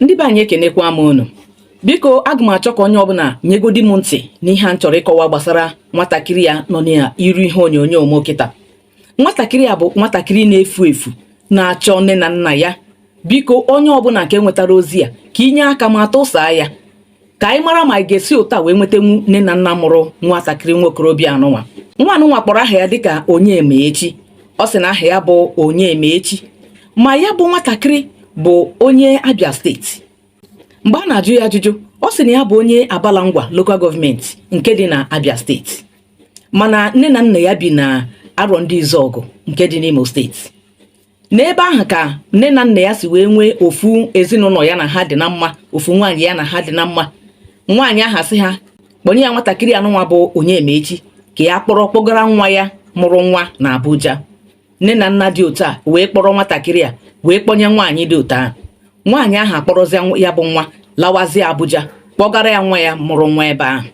ndị be anyị ekenekwa m unu biko aga m achọ ka onye ọbụla nyegodi m ntị n'ihe a m chọrọ ịkọwa gbasara nwatakịrị a nọ n'iru ihe onyonyo m kịta nwatakịrị a bụ nwatakịrị na-efu efu na-achọ nne na nna ya biko onye ọbụla nke nwetara ozi a ka i nye aka ma tụsaa ya ka anyị mara ma anyị ga-esi otu a wee nwetanwu nne na nna mụrụ nwatakịrị nwa okorobịa anụnwa nwa anụnwa kpọrọ aha ya dịka Onyemaechi ọ sị na aha ya bụ Onyemaechi ma ya bụ nwatakịrị bụ onye abia steeti mgbe a na-ajụ ya ajụjụ ọ sị na ya bụ onye abala ngwa local government nke dị na abia steeti mana nne na nna ya bi na Arọndizuọgụ nke dị n'imo steeti n'ebe ahụ ka nne na nna ya si wee nwee ofu ezinụlọ ya na ha dị na mma ofu nwaanyị ya na ha dị na mma nwaanyị ahụ asị ha kpọnye ya nwatakịrị anụnwa bụ Onyemaechi ka ya kpọrọ kpọgara nwa ya mụrụ nwa na Abuja nne na nna dị otu a wee kpọrọ nwatakịrị a wee kpọnye nwaanyị dị otu ahụ nwaanyị ahụ akpọrọzie ya bụ nwa lawazie Abuja kpọgara ya nwa ya mụrụ nwa ebe ahụ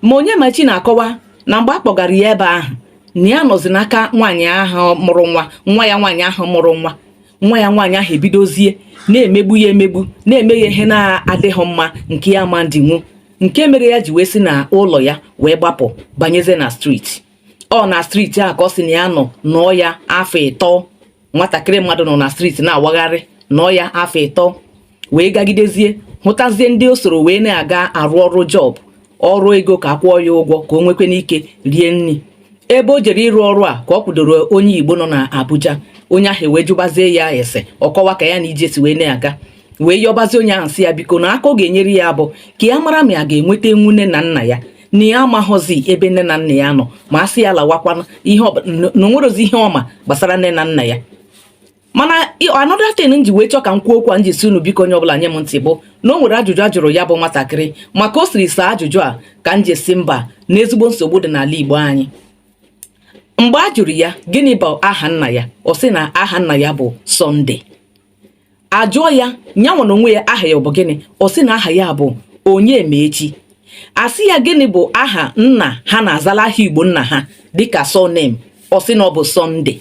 ma Onyemaechi na-akọwa na mgbe a kpọgara ya ebe ahụ na ya nọzi n'aka nwaanyị ahụ mụrụ nwa nwa ya nwaanyị ahụ mụrụ nwa nwa ya nwaanyị ahụ ebidozie na-emegbu ya emegbu na-eme ya ihe na-adịghị mma nke ya ma ndinwu nke mere ya ji wee si na ụlọ ya wee gbapụ banyezie na street ọ na street a ka ọ sị na ya nọ nọọ ya afọ ịtọ nwatakịrị mmadụ nọ na street na-awagharị nọọ ya afọ ịtọ wee gagidezie hụtazie ndị o soro wee na-aga arụ ọrụ job ọrụ ego ka a kwụọ ya ụgwọ ka o nwekwanụ ike rie nri ebe o jere ịrụ ọrụ a ka ọ kwudoro onye igbo nọ na abuja onye ahụ wee jụbazie ya ese ọ kọwaa ka ya na ije si wee na-aga wee yọbazi onye ahụ sị ya biko na aka ọ ga-enyere ya bụ ka ya mara ma ya ga-enwetanwu nne na nna ya na ya amaghọzi ebe nne na nna ya nọ ma a sị ya lawakwanụ na o nwerozi ihe ọ ma gbasara nne na nna ya mana another thing m ji wee chọọ ka m kwuo okwu a m ji sị unu biko onye ọbụla nye m ntị bụ na o nwere ajụjụ a jụrụ ya bụ nwatakịrị ma ka o siri saa ajụjụ a ka m ji sị mba na ezigbo nsogbu dị n'ala Igbo anyị mgbe a jụrụ ya gịnị bụ aha nna ya ọ sị na aha nna ya bụ Sunday a jụọ ya nyanwa na onwe ya aha ya ọ bụ gịnị ọ sị na aha ya bụ Onyemaechi a sị ya gịnị bụ aha nna ha na-azala aha igbo nna ha dịka surname ọ sị na ọ bụ Sunday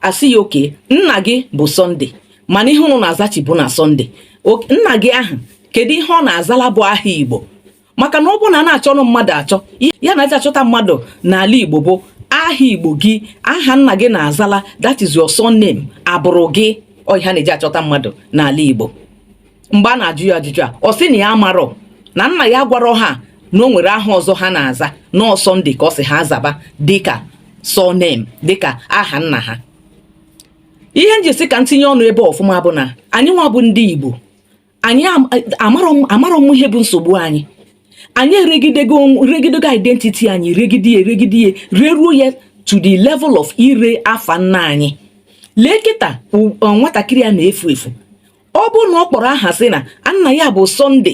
a sị ya okay nna gị bụ Sunday mana ihe unu na-azachi bụ na Sunday nna gị ahụ kedu ihe ọ na-azala bụ aha igbo maka na ọ bụrụ na a na-achọnụ mmadụ achọ ihe a na-eji achọta mmadụ n'ala Igbo bụ aha Igbo gị aha nna gị na-azala that is your surname abụrụ gị ihe a na-eji achọta mmadụ n'ala Igbo mgbe a na-ajụ ya ajụjụ a ọ sị na ya amarọ na nna ya gwara ha na o nwere aha ọzọ ha na-aza na ọ sọnde ka ọ sị ha zaba dịka surname dịka aha nna ha ihe m ji sị ka m tinye ọnụ ebe ọfụma bụ na anyị nwa bụ ndị Igbo anyị amarọ m ihe bụ nsogbu anyị anyị eregidego regidego identity anyị regide ya regide ya reruo ya to the level of ire afa nna anyị lee kịta nwatakịrị a na-efu efu ọ bụ na ọ kpọrọ aha sị na nna ya bụ sọnde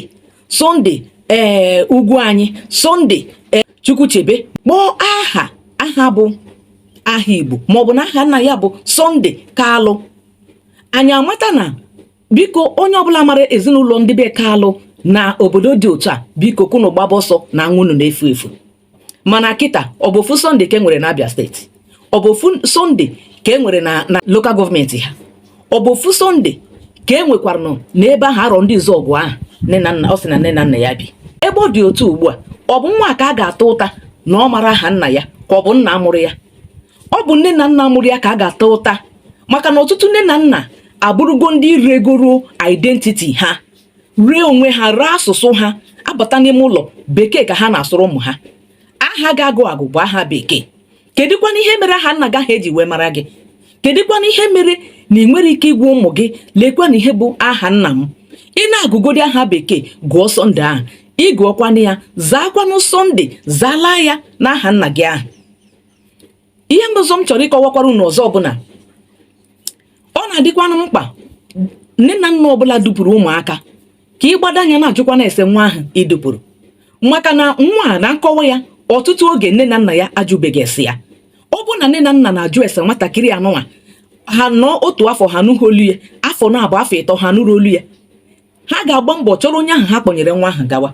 sọnde ee eh, ugwuanyị sọnde ee eh, chukwuchebe kpọọ aha aha bụ aha igbo maọbụ na aha nna ya bụ sọnde kalụ anyị amata na biko onye ọbụla mara ezinụlọ ndị be kalụ na obodo dị otu a biko ka unu gbaba ọsọ na nwa unu na-efu efu mana kịta ọ bụ ofu sọnde ka e nwere na abịa steeti ọ bụ ofu sọnde ka e nwere na na lokal gọọmenti ha ọ bụ ofu sọnde ka e nwekwara nọ n'ebe ahụ arọndịzuọgụ ahụ nne na nna ọ sị na nne na nna ya bi ebe ọ dị otu ugbu a ọ bụ nwa ka a ga-ata ụta na ọ mara aha nna ya ka ọ bụ nna mụrụ ya ọ bụ nne na nna mụrụ ya ka a ga-ata ụta maka na ọtụtụ nne na nna abụrụgo ndị regoro identiti ha ree onwe ha ree asụsụ ha abata n'ime ụlọ bekee ka ha na-asụrụ ụmụ ha aha ị ga-agụ agụ bụ aha bekee kedụkwana ihe mere aha nna gị ahụ eji wee mara gị kedụkwana ihe mere na ị nwere ike ịgwa ụmụ gị lekwanụ ihe bụ aha nna m ị na-agụgodi aha bekee gụọ sọnde ahụ ị gụọkwanụ ya zaakwanụ sọnde zalaa ya n'aha nna gị ahụ ihe mbụzọ m chọrọ ịkọwakwara unu ọzọ bụ na ọ na-adịkwanụ mkpa nne na nna ọbụla dupụrụ ụmụaka ka ị gbado anya na-ajụkwanụ ese nwa ahụ i dupụrụ maka na nwa a na nkọwa ya ọtụtụ oge nne na nna ya ajụbeghị ese ya ọ bụ na nne na nna na-ajụ ese nwatakịrị anụnwa ha nọ otu afọ ha nụghị olu ya afọ naabọ afọ ịtọ ha nụrụ olu ya ha ga-agba mbọ chọrọ onye ahụ ha kpọnyere nwa ahụ gawa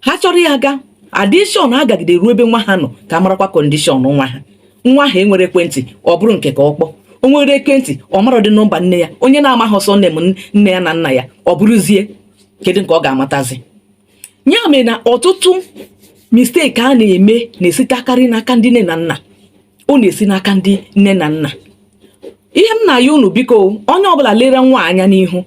ha chọrọ ya aga adishọn agagide ruo ebe nwa ha nọ ka ha marakwa kọndishọn nwa ha nwa ahụ enwere ekwentị ọ bụrụ nke ka ọ kpọọ o nwere ekwentị ọ maradị nọmba nne ya onye na-amaghị surname nne ya na nna ya ọ bụrụzie kedu nke ọ ga-amatazi ya mere na ọtụtụ mistake a na-eme na-esitekarị n'aka ndị nne na nna ọ na-esi n'aka ndị nne na nna ihe m na-ayọ unu biko onye ọbụla lere nwa a anya n'ihu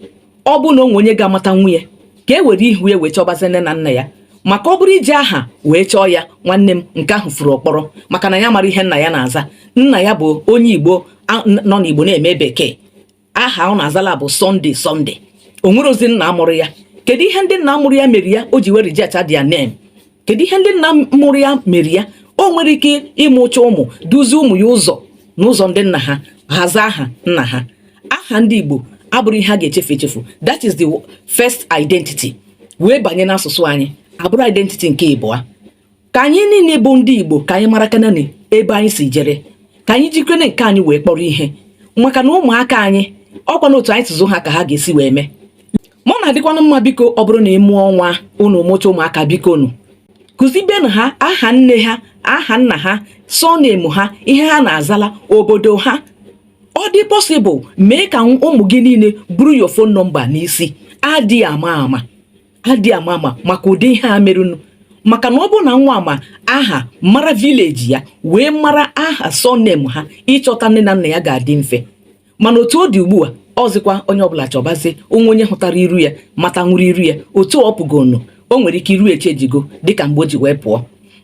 ọ bụ na o nwee onye ga-amata nwa onye ka e were ihu ya wee chọbazi nne na nna ya maka ọ bụrụ iji aha wee chọọ ya nwanne m nke ahụ furu ọkpọrọ maka na ya mara ihe nna ya na-aza nna ya bụ onye igbo nọ n'igbo na-eme bekee aha ọ na-azala bụ Sunday Sunday o nwerozi nna mụrụ ya kedu ihe ndị nna mụrụ ya mere ya o ji were reject their name kedu ihe ndị nna mụrụ ya mere ya o nwere ike ịmụcha ụmụ duzie ụmụ ya ụzọ n'ụzọ ndị nna ha ha aza aha nna ha aha ndị Igbo abụrụ ihe a ga-echefu echefu that is the first identity wee banye n'asụsụ anyị abụrụ identity nke ịbụa ka anyị niile bụ ndị igbo ka anyị marakwanụ ebe anyị si jere ka anyị jikwanụ nke anyị wee kpọrọ ihe maka na ụmụaka anyị ọkwa na otu anyị si zụ ha ka ha ga-esi wee mee ma ọ na-adịkwanụ mma biko ọ bụrụ na ị mụọ nwa unu mụcha ụmụaka bikonụ kụzibenụ ha aha nne ha aha nna ha surname ha ihe ha na-azala obodo ha ọ dị possible mee ka ụmụ gị niile buru your phone number n'isi adị ama ama adị ama ama maka ụdị ihe a merenụ maka na ọ bụrụ na nwa a ma aha mara village ya wee mara aha surname ha ịchọta nne na nna ya ga-adị mfe mana otu ọ dị ugbu a ọzịkwa onye ọbụla chọbazie o nwee onye hụtara iru ya mata nwụrụ iru ya otu ọ pụgonu o nwere ike iru echenjigo dịka mgbe o ji wee pụọ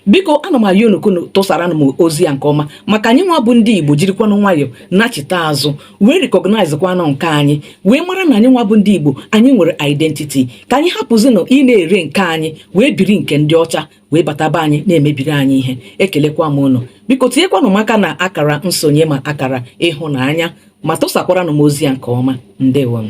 biko ana m ayọ unu ka unu tụsaranụ m ozi a nke ọma maka anyị nwa bụ ndị igbo jirikwanụ nwayọọ nachita azụ wee recognize kwanụ nke anyị wee mara na anyị nwa bụ ndị igbo anyị nwere identity ka anyị hapụzinụ ịna-ere nke anyị wee biri nke ndị ọcha wee bataba anyị na-emebiri anyị ihe ekelekwa m unu biko tinyekwanụ m aka na akara nsonye ma akara ịhụnanya ma tụsakwaranụ m ozi a nke ọma ndewo nụ